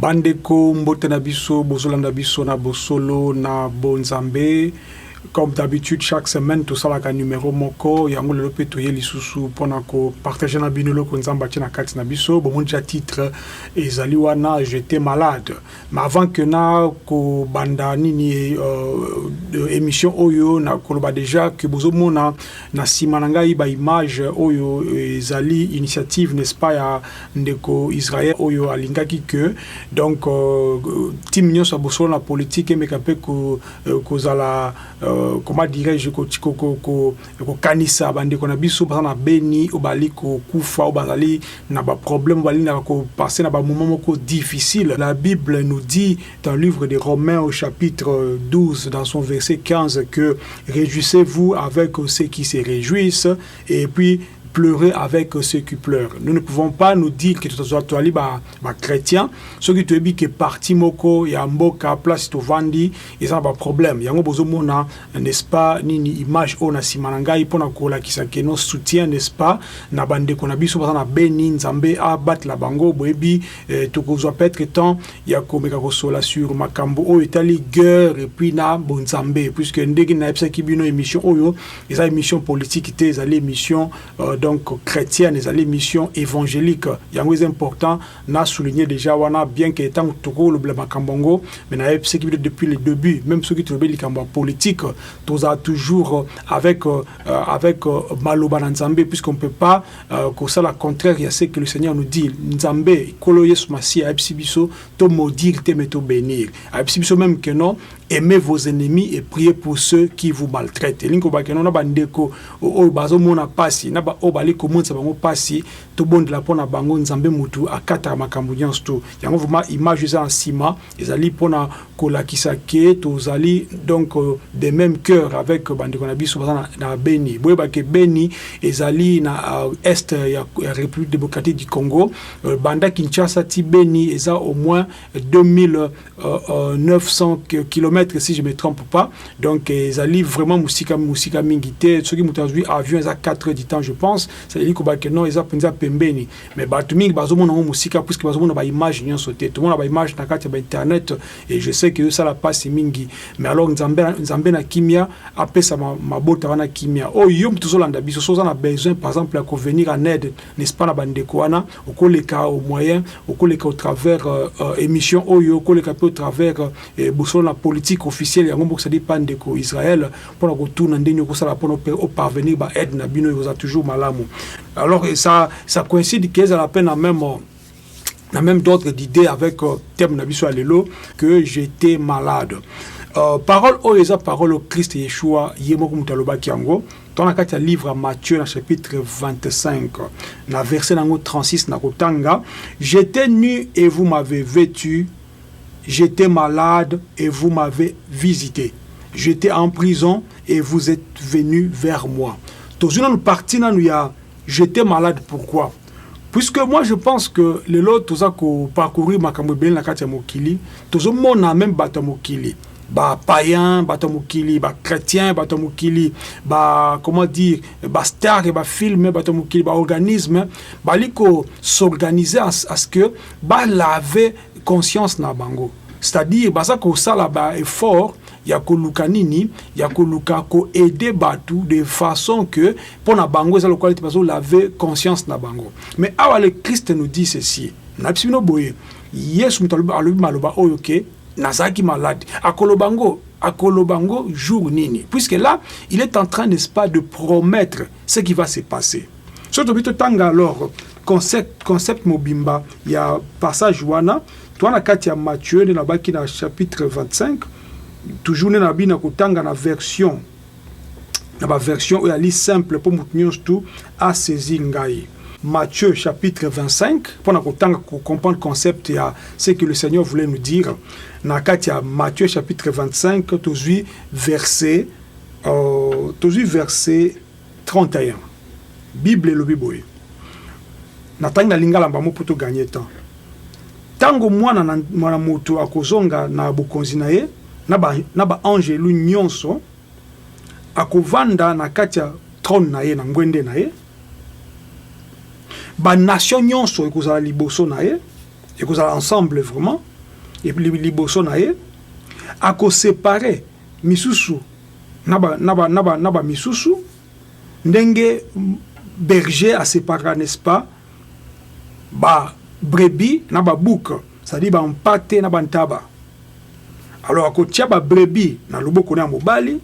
Bandeko mbote na biso bozolanda biso na bosolo na bonzambe comme d'habitude chaque semaine tosalaka numero moko yango lelo mpe toye lisusu mpo na kopartage na bino eloko nzambe atie na kati na biso bomoni tya titre ezali wana jete malade mais avant que na kobanda nini euh, émission oyo na koloba déjà que bozomona na nsima na ngai baimage oyo ezali initiative n'est-ce pas ya ndeko Israël oyo alingaki que donc euh, team nyonso ya bosolo na politique emeka mpe euh, kozala euh, comment dirais-je kokanisa bandeko na biso baza na beni oyo bazali kokufa oyo bazali na baproblème balingaka kopasse na bamoment moko difficile la bible nous dit dans le livre de romains au chapitre 12 dans son verset 15 que réjouissez-vous avec ceux qui se réjouissent et puis pleurer avec ceux qui pleurent. Nous ne pouvons pas nous dire que tozwa toali ba ba chrétiens soki toyebi que parti moko ya mboka place tovandi eza ba problème yango bozomona n'est-ce pas nini image oyo na nsima na ngai mpo na kolakisa que nos soutien n'est-ce pas na bandeko na biso baza na beni nzambe abatela bango boyebi eh, tokozwa peut-être temps ya komeka kosola sur makambo oyo etali guerre epuis na bonzambe puisque ndenge nayebisaki bino émission oyo eza émission politique te ezali émission euh, donc chrétienne ezali émission évangélique yango eza important na souligner déjà wana bien que ntango tokolobela makambo yango mais nayebisaki bino depuis le début même soki tolobi likambo ya politique tozala toujours euh, avec, euh, euh, avec euh, maloba na nzambe puisqu'on peut pas euh, kosala contraire ya ce que le seigneur nous dit nzambe nkolo yesu masiya ayebisi biso to maudire te mais to bénir ayebisi biso même que non Aimez vos ennemis et priez pour ceux qui vous maltraitent. Elingi koloba keno na bandeko oyo bazomona mpasi na baoyo bali komonisa bango mpasi, tobondela mpo na bango. Nzambe motu akataka makambo nyonso tu yango. Vraiment image eza na nsima ezali mpo na kolakisa ke tozali donc euh, de même cœur avec bandeko na biso baza na, na Beni. Boyeba ke Beni ezali na uh, est ya, ya République démocratique du Congo. Euh, banda Kinshasa ti Beni eza au moins 2000 900 euh, km si je me trompe pas donc ezali vraiment mosika mosika mingi te soki moto azwi avion eza 4 heures du temps je pense ezali koba ke non eza mpenza pembeni mais bato mingi bazomona yango mosika puiske bazomona baimage nyonso te tomona baimage na kati ya bainternet et je sais ke ezosala mpasi mingi mais alors nzambe, nzambe na kimia apesa mabota wana kimia oyo oh, yo moto ozolanda biso so oza na besoin par exemple ya kovenir en aide n'est ce pas na bandeko wana okoleka au moyen okoleka au travers euh, euh, émission oyo okoleka mpe au travers euh, bosolo na politique officielle yango moko cestadire pa ndeko israel mpona kotuna ndenge okosala mpona oparvenir ba aide na bino ekozala toujours malamu alors ça, ça coïncide ke ezala mpe na même na même d'autres d'idées avec euh, thème na biso ya lelo que j'étais malade euh, parole oyo eza parole au christ yeshua ye moko moto alobaki yango Dans la carte ya livre à Matthieu na chapitre 25 na verset nango 36 na kotanga j'étais nu et vous m'avez vêtu j'étais malade et vous m'avez visité j'étais en prison et vous êtes venu vers moi tozwi nanu parti nanu ya j'étais malade pourquoi puisque moi je pense que lelo toza ko parcourir makambo ebele na kati ya mokili tozomona meme bato ya mokili ba païen bato ya mokili ba chrétien bato ya mokili ba comment dire ba star ya bafilme bato ya mokili baorganisme bali ko s'organiser à ce que balave conscience na bango c'est-à-dire baza kosala ba effort ya koluka nini ya koluka ko aider batu de façon que pona bango eza lokola ete bazo laver conscience na bango mais awa le Christ nous dit ceci na bisi bino boye Yesu moto alobi maloba oyo ke nazalaki malade akoloba ngo akoloba ngo jour nini puisque là il est en train n'est-ce pas de promettre ce qui va se passer soki tobi totanga alors concept, concept mobimba ya passage wana toa na kati ya Matthieu nde nabaki na chapitre 25 toujours nde nabi na kotanga na version na baversion oyo ali simple mpo moto nyonso tu asaisi ngai Matthieu chapitre 25 mpo na kotanga kocomprendre concept ya ce que le Seigneur voulait nous dire na kati ya Matthieu chapitre 25 tozwi verset euh, tozwi verset 31 bible elobi boye natangi na lingala mbamo mpo toganye temps ntango mwana na, mwana moto akozonga na bokonzi na ye na ba, na ba angelu nyonso akovanda na kati ya trone na ye na ngwende na ye banation nyonso ekozala liboso na ye ekozala ensemble vraiment liboso na ye akosepare misusu na ba misusu ndenge berger a separaka n'est ce pas ba brebis na ba bouc c'est à dire ba mpate na ba ntaba alors akotia ba brebis na loboko na ya mobali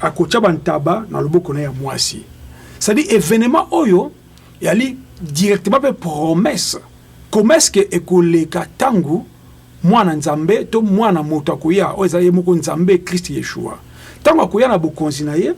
akotia ba ntaba na loboko na ya mwasi c'est à dire evenement oyo yali directement pe promesse comment est-ce que ekoleka tango Mwana Nzambe, to Mwana moto akoya, oyo ezali ye moko Nzambe, Christ Yeshua. Ntango akoya na bokonzi na ye,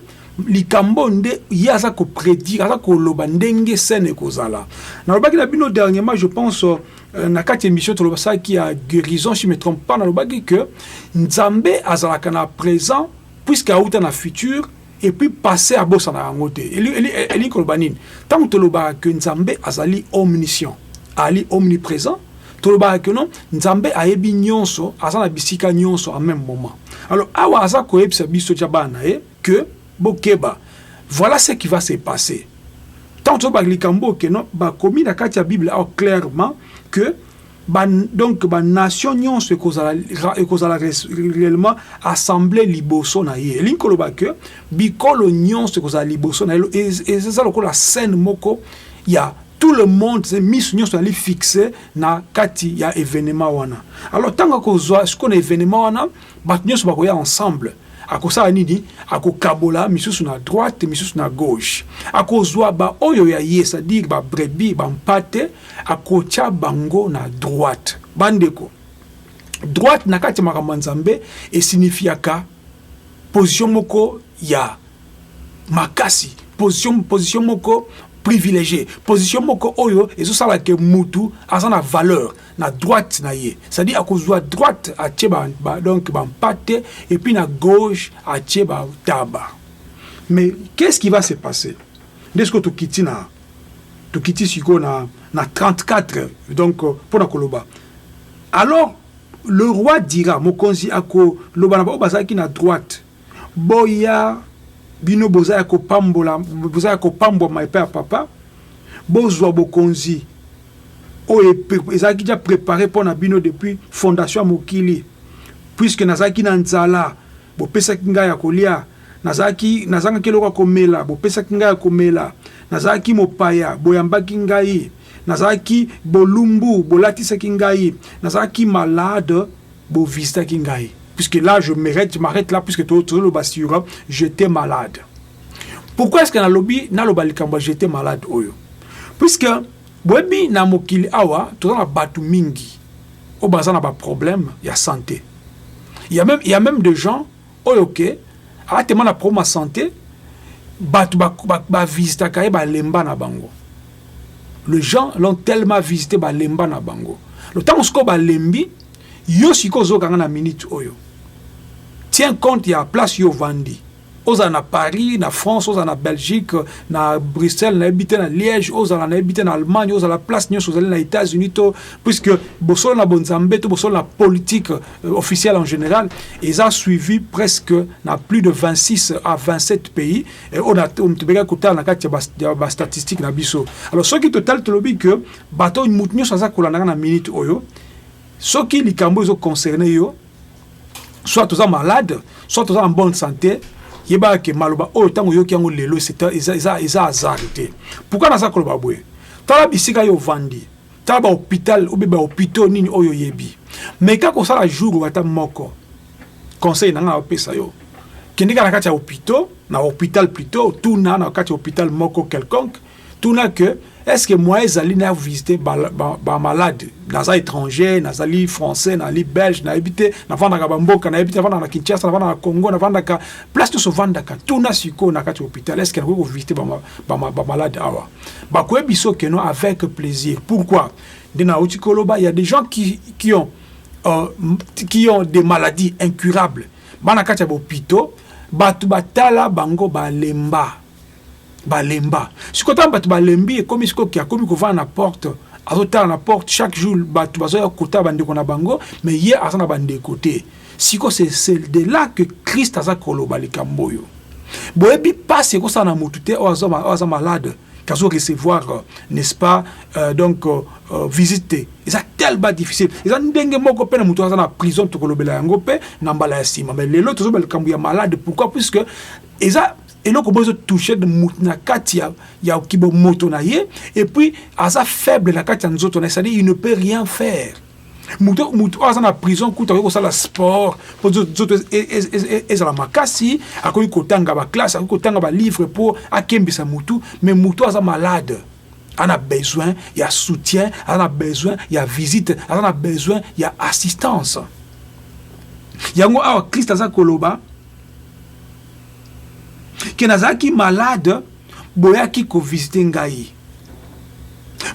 likambo oyo nde ye aza ko predire, aza koloba ndenge scène ekozala. Nalobaki na bino dernièrement, je pense, euh, na kati emission tolobasaki ya guérison, si me trompe pas, nalobaki que Nzambe azalaka na present puisque auta na futur Et puis passé à bosana yango te. Eli eli eli koloba nini? Tango tolobaka que Nzambe azali omniscient, ali omnipresent, tolobaka que non Nzambe ayebi nyonso, aza na bisika nyonso en même moment. Alors awa aza koyebisa biso tya bana na ye que bokeba voilà ce qui va se passer. Tango tolobaka likambo oyo que non bakomi na kati ya Bible awa clairement que Ba, donc ba nation nyonso ekozala ekozala réellement assemblée liboso na ye elingi koloba que bikolo nyonso ekozala liboso na ye eza lokola scène moko ya tout le monde se miso nyonso ezali fixe na kati ya événement wana alors ntango akozwa sikoyo na événement wana Bato nyonso bakoya ensemble akosala nini? Akokabola misusu na droite, misusu na gauche. Akozwa baoyo ya ye, c'est-à-dire ba brebis, ba mpate, akotya bango na droite. Bandeko, droite na kati ya makambo ya Nzambe esinifiaka position moko ya makasi, position, position moko privilegie, position moko oyo ezosala ke mutu aza na valeur na droite na ye c'est-à-dire akozwa droite atie ba, ba, donc bampate et puis na gauche atie bataba mais qu'est-ce qui va se passer nde sikoyo tokiti na tokiti sikoyo na, na 34 donc euh, mpo na koloba alors le roi dira mokonzi akoloba na baoyo bazalaki na droite boya bino boza ya kopambola boza ya kopambwama epai ya papa bozwa bokonzi oyo ezalaki ja prepare mpo na bino depuis fondation ya mokili puiske nazalaki na nzala bopesaki ngai ya kolia nazalaki nazangaki eloko ya komela bopesaki ngai ya komela nazalaki mopaya boyambaki ngai nazalaki bolumbu bolatisaki ngai nazalaki malade Bo visitaki ngai puisque là je m'arrête, je m'arrête là puisque to to loba sur euh, j'étais malade. Pourquoi est-ce que na lobi na loba likambo j'étais malade oyo? Puisque boyebi na mokili awa toza na bato mingi oyo baza na ba problème ya santé. Il y a même il y a même des gens Oyo que aza tellement na problème ya sante, batu ba visitaka ye balemba na bango. Les gens l'ont tellement visite balemba na bango. Donc tango sikoyo balembi, yo sikoyo ozoyoka nga na minute oyo. Tiens compte ya place yo ovandi. ozala na paris na france ozala na belgique na bruxelles nayebi te na liège ozala nayebi te na allemagne ozala place nyonso ozali na états-unis to puisque bosolo na bonzambe to bosolo na politike Euh, officielle en général ils ont suivi presque na plus de 26 à 27 pays et on a tobeka kotala na kati ya bastatistique na biso alors soki total tolobi que bato moto nyonso aza kolandaka na minute oyo soki likambo ezo concerne yo soit toza malade soit toza en bonne santé yebaka ke maloba oyo ntango oyoki yango lelo eza hasard te pourkui naza koloba boye tala bisika yo ovandi Tala ba hopital obe ba hopitaux nini oyo yebi. Meka kosala jour wata moko. Conseil na nga opesa yo. Kendika na kati ya hopitaux, na hopital plutôt, tuna na kati ya hopital moko quelconque, tuna que est-ce que moi ezali na visiter ba, ba, ba malade naza étranger nazali français nazali belge nayebi te navandaka bamboka nayebi te navandaka na kinshasa navandaka na congo navandaka place nyonso vandaka tuna sikoyo na kati ya hôpital est-ce que nakoki kovisite bamalade ba, ba, ba awa bakoye biso que non avec plaisir pourquoi nde nauti koloba ya des gens qui, qui ont euh, qui ont des maladies incurables bana kati ya bopito bato batala bango balemba balemba sikoyo ntango bato balembi ekomi sikoyo ke akomi kovanda na porte azotala na porte chaque jour bato bazoya kotala bandeko na bango mais ye aza na bandeko te Siko c'est c'est de là que Christ aza koloba likambo oyo. Boyebi pasi ekosala na mutu te oyo aza oyo aza malade kazo recevoir euh, n'est-ce pas euh, donc euh, euh, visite te. Eza tellement difficile. Eza ndenge moko pe na mutu aza na prison tokolobela yango pe na mbala ya sima. Mais lelo tozo ba likambo ya malade pourquoi puisque eza eloko bozo toucher de mutu na kati ya ya kibomoto na ye et puis aza faible na kati ya nzoto na ye, c'est-à-dire il ne peut rien faire. moto moto oyo aza na prison kutu akoki kosala sport mpo nzoto e, e, e, ezala makasi akoki kotanga baklasse akoki kotanga balivre mpo akembisa motu mais moto aza malade aza na besoin ya soutien aza na besoin ya visite aza na besoin ya assistance yango awa krist aza koloba ke nazalaki malade boyaki kovisite ngai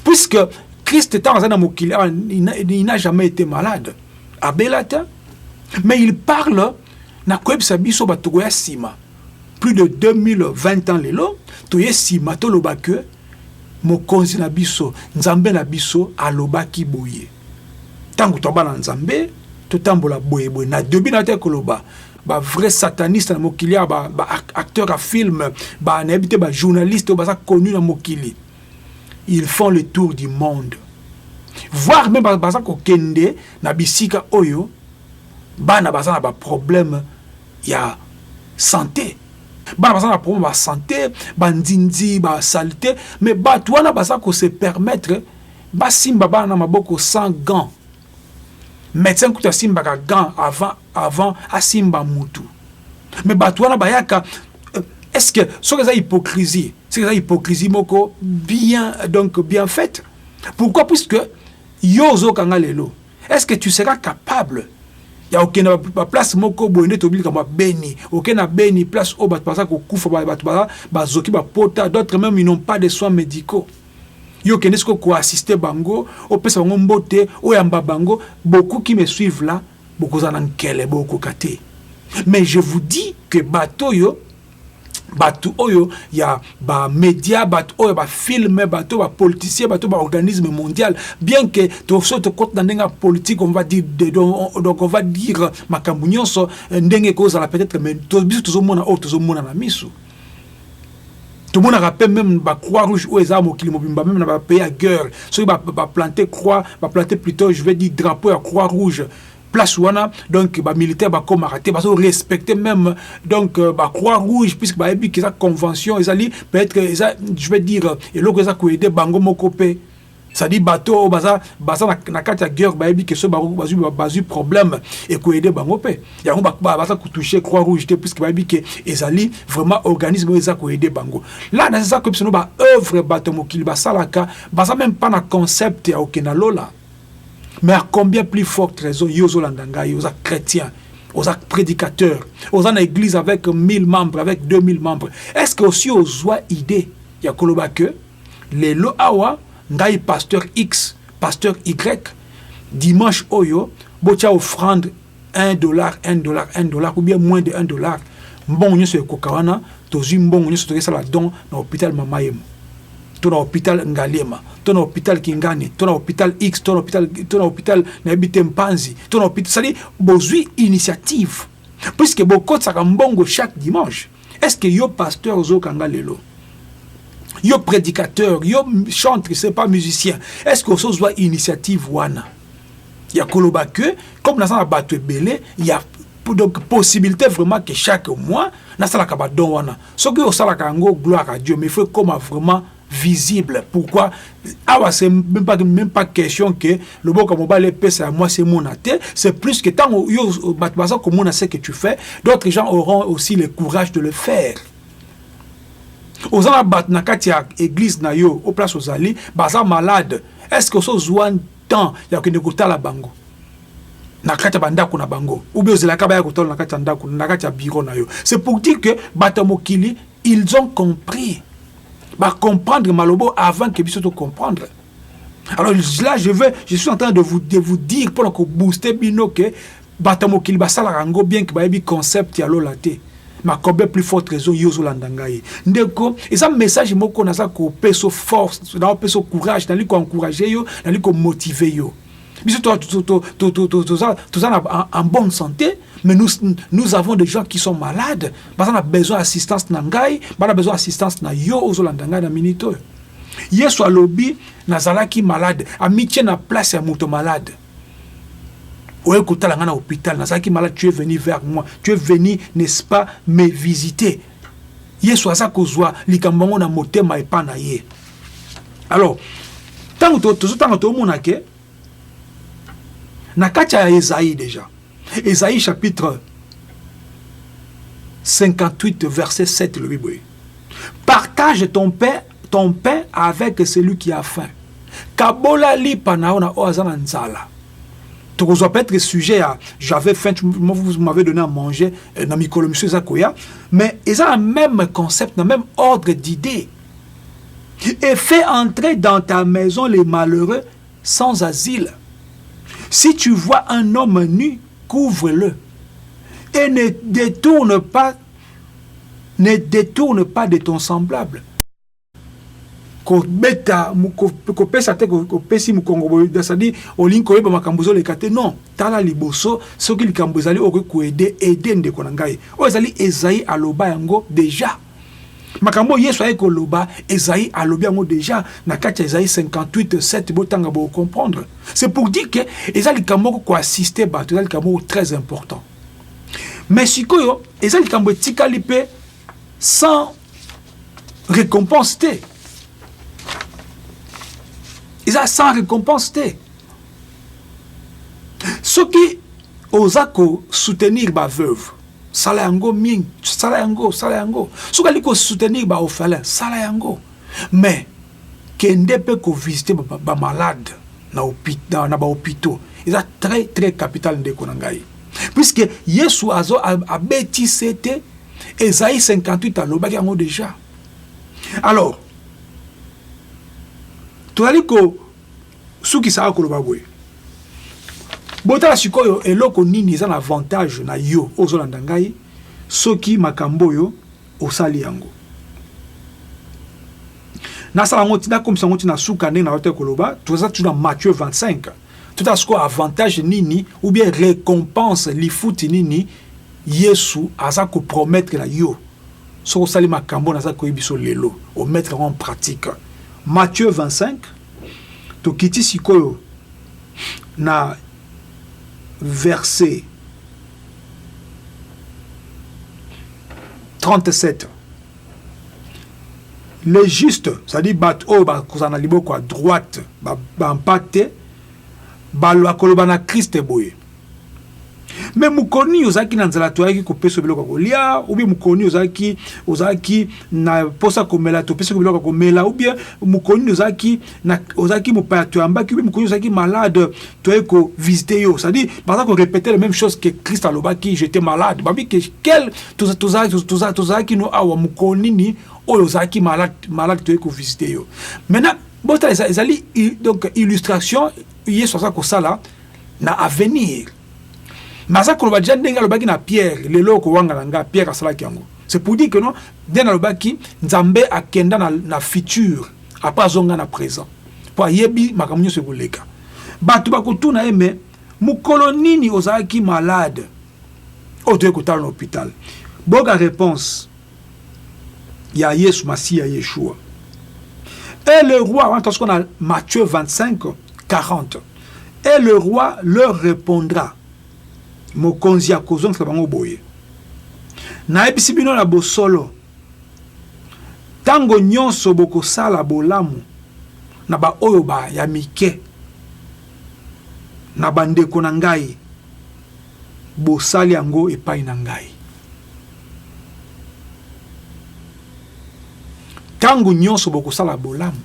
puisque christ ntango aza na mokili awa il n'a jamais été malade abela te mais il parle na koyebisa biso bato koya nsima plus de 2020 ans lelo toye nsima toloba ke mokonzi na biso nzambe na biso alobaki boye ntango tobana nzambe totambola boyeboye na debi na te koloba ba vrai sataniste na mokili ya ba, ba acteur ya film ba nayebi te ba journaliste oyo baza connu na mokili ils font le tour du monde voir même baza kokende na bisika oyo bana baza na baproblème ya santé bana baza na problème ya santé bandindi basalite mais bato wana baza kose permettre basimba bana na maboko sans gant Medecin kutu asimbaka gant avant avant asimba mutu. Mais batu wana bayaka euh, est-ce que soki eza hypocrisie, soki eza hypocrisie moko bien donc bien faite. Pourquoi puisque yo ozokanga lelo. Est-ce que tu seras capable ya okenda baplace moko boye nde tobilika mwa beni oke na beni place oyo bato baza kokufa bato baza bazoki bapota d'autres même ils n'ont pas de soins médicaux Yo kende siko ko assister bango, opesa bango mbote, oyamba bango, beaucoup qui me suivent là, bokozala na nkele bokoka te. Mais je vous dis que bato oyo bato oyo ya ba media bato oyo ba film bato ba politicien bato ba organisme mondial bien que toso tokota na ndenge ya politique on va dire de, donc, donc on va dire makambo nyonso euh, ndenge ekozala peut-être mais biso tozomona oyo tozomona na miso tomonaka mpe meme ba croix rouge oyo eza mokili mobimba meme na ba pays ya guerre soki baplante croix baplante plutôt je vais dire drapeau ya croix rouge place wana donc bamilitaire bakomaka te bazo respecte meme donc euh, ba croix rouge puisque bayebi ke eza convention ezali peut-être eza je vais dire eloko eza koede bango moko mpe cest bato oyo baza, baza na, na kati ya guerre bayebi ke soki bazwi, bazwi problème ekoede bango mpe yango baza kotouche croix rouge te puiske bayebi ke ezali vraiment organisme oyo eza koede bango la naza koyebisa no baoeuvre bato ya mokili basalaka baza meme mpa na concept ya oke na lola mais à combien plus forte raison yo ozolanda ngai oza chrétien oza prédicateur oza na église avec 1000 membres avec 2000 membres est ce que osi ozwa idée ya koloba que Lelo awa ngai pasteur X, pasteur Y, dimanche oyo botia offrande 1 dollar, 1 dollar, 1 dollar ou bien moins de 1 dollar. Mbongo nyonso ekoka wana tozwi mbongo nyonso tokesala don na hôpital Mama Yemo to na hôpital Ngaliema to na hôpital Kingani to na hôpital X to na hôpital to na hôpital na yebi te Mpanzi to na hôpital sali bozwi initiative puisque bokotisaka mbongo chaque dimanche Est ce que yo pasteur ozo kanga lelo? Yo prédicateur, yo chantre, c'est pas musicien. Est ce que ozo zwa initiative wana? Ya koloba que comme naza na bato ebele, ya donc possibilité vraiment que chaque mois nasalaka ba don wana. Soki osalaka yango gloire à Dieu, mais faut ekoma vraiment visible pourquoi awa c'est même pas, même pas question que loboko mobali epesa ya mwasi emona te c'est plus que ntango yo euh, bato baza komona ce que tu fais d'autres gens auront aussi le courage de le faire oza na bato na kati ya église na yo o place ozali baza malade est ce que osozwa temps ya kokende kotala bango na kati ya bandako na bango ou bien ozelaka baya kotala na kati ya ndako na kati ya biro na yo c'est pour dire que bato ya mokili Ils ont compris. Ba comprendre malobo avant que biso to comprendre. Alors là, je veux, je suis en train de vous, de vous dire pour que booster bino que bata mokili basala rango bien que bayebi concept ya lola te. makobe plus forte raison yo ozolanda ngai ndeko eza message moko naza kopesa force naopesa courage nali koencourage yo nali komotive yo biso toza na en bonne santé mais nous, nous avons des gens qui sont malades baza na besoin assistance na ngai bana besoin assistance na yo ozolanda ngai na minute oyo yesu alobi nazalaki malade amitie na place ya moto malade oye kotala ngai na hôpital nazalaki malade tu es venu vers moi tu es venu n'est-ce pas me visiter yesu aza kozwa likambo yango na motema epai na ye alors ntango tozotanga tomona ke na kati ya ezai deja ezai chapitre 58 verset 7 lobi boye partage ton pain, ton pain avec celui qui a faim kabola lipa na yo na oyo aza na nzala tokozwa peut-être sujet ya j'avais faim vous m'avez donné à manger euh, na mikolo mosusu eza koya mais eza na même concept na même ordre d'idée et fait entrer dans ta maison les malheureux sans asile. Si tu vois un homme nu, couvre-le et ne détourne pas ne détourne pas de ton semblable. kobeta kopesa te kopesi mokongo boye cestadi olingi koyeba makambo ezoleka te non tala liboso soki likambo ezali okoki koede ede ndeko na ngai oyo ezali ezai aloba yango deja makambo yesu ayaki koloba ezai alobi yango deja na kati ya ezai 58 7 botanga bocomprendre c'est pour dire que eza likambo moko koassiste bato eza likambo moko très important mais sikoyo eza likambo etikali mpe sans récompense te eza sans récompense te soki oza kosoutenir baveuve sala yango ming sala yango sala yango soki ali kosoutenir baofalin sala yango mais kende mpe kovisite bamalade na, na, na bahopitaux eza très très capital ndeko na ngai puisque yesu azo abeti sete ezai 58 alobaki yango déjà alors tozali ko Sukisaka koloba boye. Botala sikoyo eloko nini eza na avantage na yo ozolanda ngai soki makambo oyo osali yango nasala yango ti nakomisa yango ti na suka ndenge nayo te koloba toza tu na Matthieu 25 totala sikoyo avantage nini ou bien récompense lifuti nini yesu aza kopromettre na yo soki osali makambo naza koyebiso lelo omettre yango en pratique Matthieu 25 Tokiti sikoyo na verse 37. Les justes, c'est-à-dire bato oyo bakozala na liboko ya droite bampate, bakoloba na Kriste boye. mais mokoni ozalaki na nzala toyaki kopesa biloko ya kolia ubie mokoni ozalaki ozalaki na posa komela topesaki biloko ya komela ubie mokoni ozalaki ozalaki mopaya toyambaki ubie mokoni ozalaki malade toyei kovisite yo cestadire baza korepete le même chose que christ alobaki jete malade babi ke quel tozalaki no awa mokolo nini oyo ozalaki malade malade toyei kovisite yo maintenant botala ezali donc illustration yesu aza kosala na avenir naza koloba deja ndenge alobaki na Pierre lelo okowanga na nga Pierre asalaki yango c'est pour dire que non ndenge alobaki Nzambe akenda na, na futur après azonga na présent mpo ayebi makambo nyonso ekoleka bato bakotuna ye me mokolo nini ozalaki malade oyo toyei kotala na hôpital boka réponse ya Yesu Masiya Yeshua et le roi wana tosuka na Matthieu 25 40 Et le roi leur repondra, Mokonzi akozongisa bango boye, Nayebisi bino na bosolo, tango nyonso bokosala bolamu na baoyo ba ya mike, na bandeko na ngai, bosali yango epai na ngai. Tango nyonso bokosala bolamu.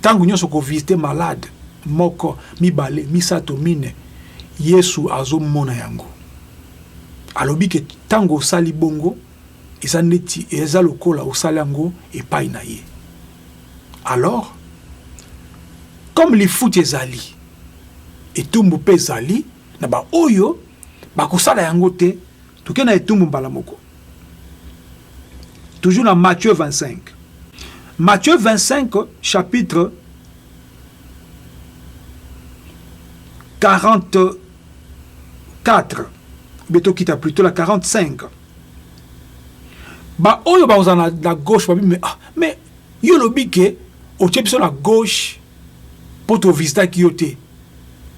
Tango nionso ko visiter malade moko, mibale, misato, mine, Yesu azo mona yango. Alobi que tango osali bongo eza neti eza lokola osali yango epayi na ye. Alors comme lifuti ezali, etumbu pe ezali na ba oyo bako sala yango te Toke na etumbu mbala moko. Toujours na Matthieu 25. Matthieu 25 chapitre 44 beto kita plutôt la 45 ba oyo baoza na, na gauche babi mais, ah, mais yo olobi ke otie biso na gauche mpo tovisitaki yo te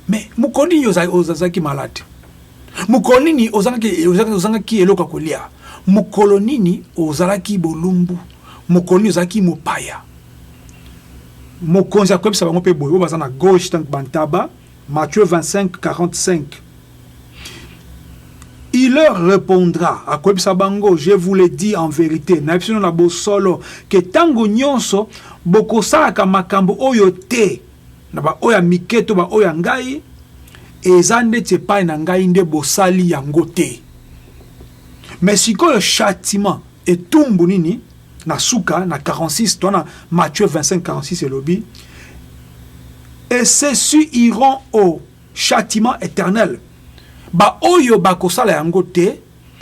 mais mokoni yo ozalaki malade Mokolo nini ozangaki ozangaki ozangaki eloko ya kolia? Mokolo nini ozalaki bolumbu? Mokolo nini ozalaki mopaya? Mokonzi akoyebisa bango mpe boye, oyo baza na gauche donc bantaba, Matthieu 25 45 Il leur repondra, akoyebisa bango, je vous le dis en verite, nayebisi bino na bosolo, ke tango nyonso bokosalaka makambo oyo te Na ba oyo ya mike to ba oyo ya ngai, eza ndeti epai na ngai nde bosali yango te. Mais sikoyo chatiman, etumbu nini, na suka na 46 toana Matthieu 25 46 elobi et ceci iront au chatiman eternel ba oyo bakosala yango te.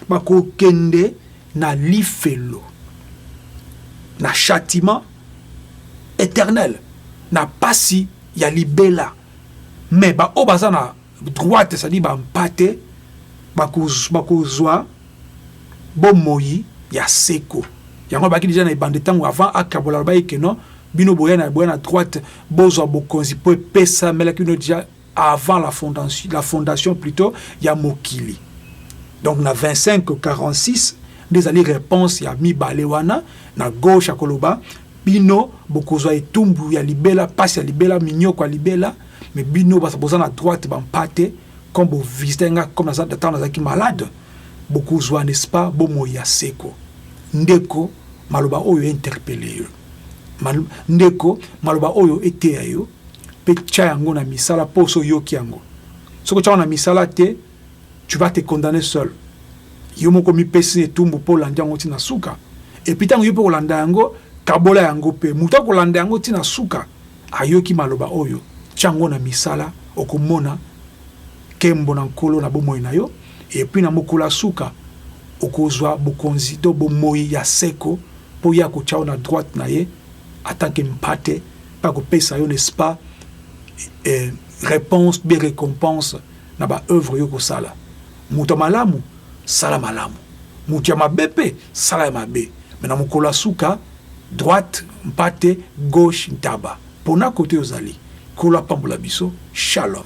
Bakokende na lifelo, na chatiement eternel, na pasi ya libela. Mais ba oyo baza na droite, c'est-à-dire ba mpate, bakozua bomoyi ya seko. Yango abaki deja na ebandi tango avant akabola, alobaki que non, bino boya na boya na droite, bozua bokonzi po epesa melaki bino deja avant la fondation, la fondation plutôt ya mokili donc na 25 46 nde ezali réponse ya mibale wana na gauche ya koloba bino bokozwa etumbu ya libela mpasi ya libela minyoko ya libela me bino boza na droite bampate comme bovisite nga comme ntango nazalaki malade bokozwa n'est-ce pas bomoi ya seko ndeko maloba oyo interpele yo ndeko maloba oyo eteya yo Pe tia yango na misala po osi oyoki yango. Soki otia yango na misala te, tu vas te condamner seul. Yo moko omipesi na etumbu po olandi yango ti na suka. Et puis tango yo pe okolanda yango, kabola yango pe. Mutu akolanda yango ti na suka, ayoki maloba oyo, tia yango na misala, okomona kembo na Nkolo na bomoi na yo. Et puis na mokolo ya suka, okozwa bokonzi to bomoyi ya seko, po Ye akotia yo na droite na Ye en tant que Mpate. Bakopesa yo n'est-ce pas eh, reponse bien recompense na ba œuvre yo kosala. Moto malamu sala malamu, moto ya mabe mpe sala ya mabe, mais na mokolo ya suka droite mpate gauche ntaba. Pona kote ozali, Nkolo apambola biso. Shalom.